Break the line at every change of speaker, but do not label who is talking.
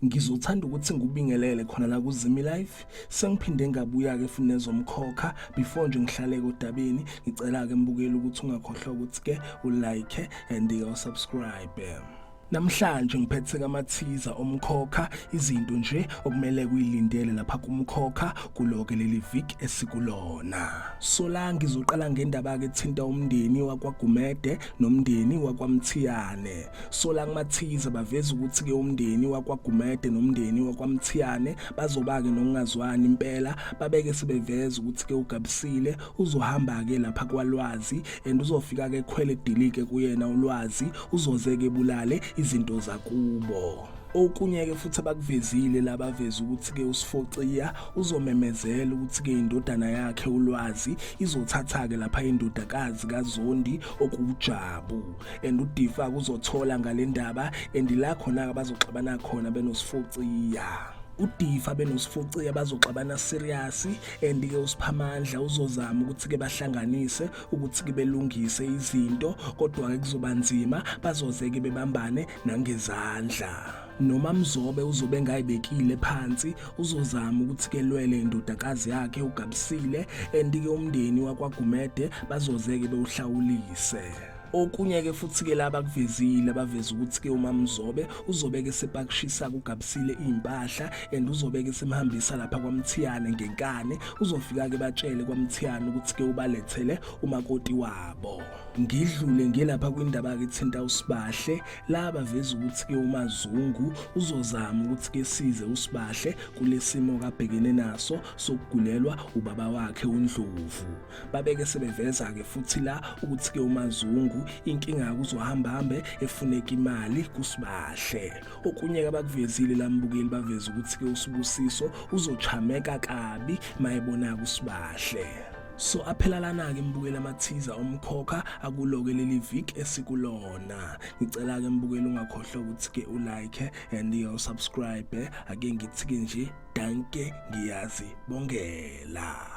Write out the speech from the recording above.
ngizothanda ukuthi ngikubingelele khona la kuzimi life sengiphinde ngabuya-ke futhi nezomkhokha before nje ngihlaleke odabeni ngicela-ke mbukeli ukuthi ungakhohlwa ukuthi-ke ulike and-ke usubscribe Namhlanje ngiphethe kamathiza omkhokha izinto nje okumele kuyilindele lapha kumkhokha kuloke leli week esikulona. Sola ngizoqala ngendaba ke thinta umndeni wakwaGumede nomndeni wakwaMthiyane. Sola kumathiza baveza ukuthi ke umndeni wakwaGumede nomndeni wakwaMthiyane bazoba ke nokungazwani impela babeke sebeveza ukuthi ke ugabisile uzohamba-ke lapha kwalwazi and uzofika-ke khwele dilike kuyena ulwazi uzoze-ke bulale izinto zakubo okunye-ke futhi abakuvezile laba veze ukuthi-ke usifociya uzomemezela ukuthi-ke indodana yakhe ulwazi izothatha-ke lapha indodakazi kazondi okuwujabu and udifa kuzothola ngale ndaba and la khona-ke bazoxabana khona benosifociya udifa benosifuciya bazoxabana serious and ke usiphamandla uzozama ukuthi ke bahlanganise ukuthi ke belungise izinto kodwa ke kuzoba nzima bazoze ke bebambane nangezandla noma mzobe uzobe engayibekile phansi uzozama ukuthi kelwele indodakazi yakhe ugabisile and ke umndeni wakwagumede bazozeke bewuhlawulise Okunye ke futhi ke laba kuvezile abaveza ukuthi ke uMamzobe uzobe ke sepakishisa kugabisile impahla and uzobe ke semhambisa lapha kwaMthiyane ngenkane uzofika ke batshele kwaMthiyane ukuthi ke ubalethele umakoti wabo ngidlule ngelapha kwindaba ke thinta usibahle laba veza ukuthi ke umazungu uzozama ukuthi ke size usibahle kulesimo kabhekene naso sokugulelwa ubaba wakhe uNdlovu babeke sebeveza-ke futhi la ukuthi-ke umazungu inkinga yakuzohambahambe efuneka imali kusibahle okunye-ke abakuvezile la mbukeli baveza ukuthi-ke usibusiso uzochameka kabi mayebona kusibahle so aphelalana-ke mbukeli amathiza omkhokha akuloke leli vik esikulona ngicela-ke mbukeli ungakhohlwa ukuthi-ke ulike and usubscribe ake ngithi-ke nje danke ngiyazi bongela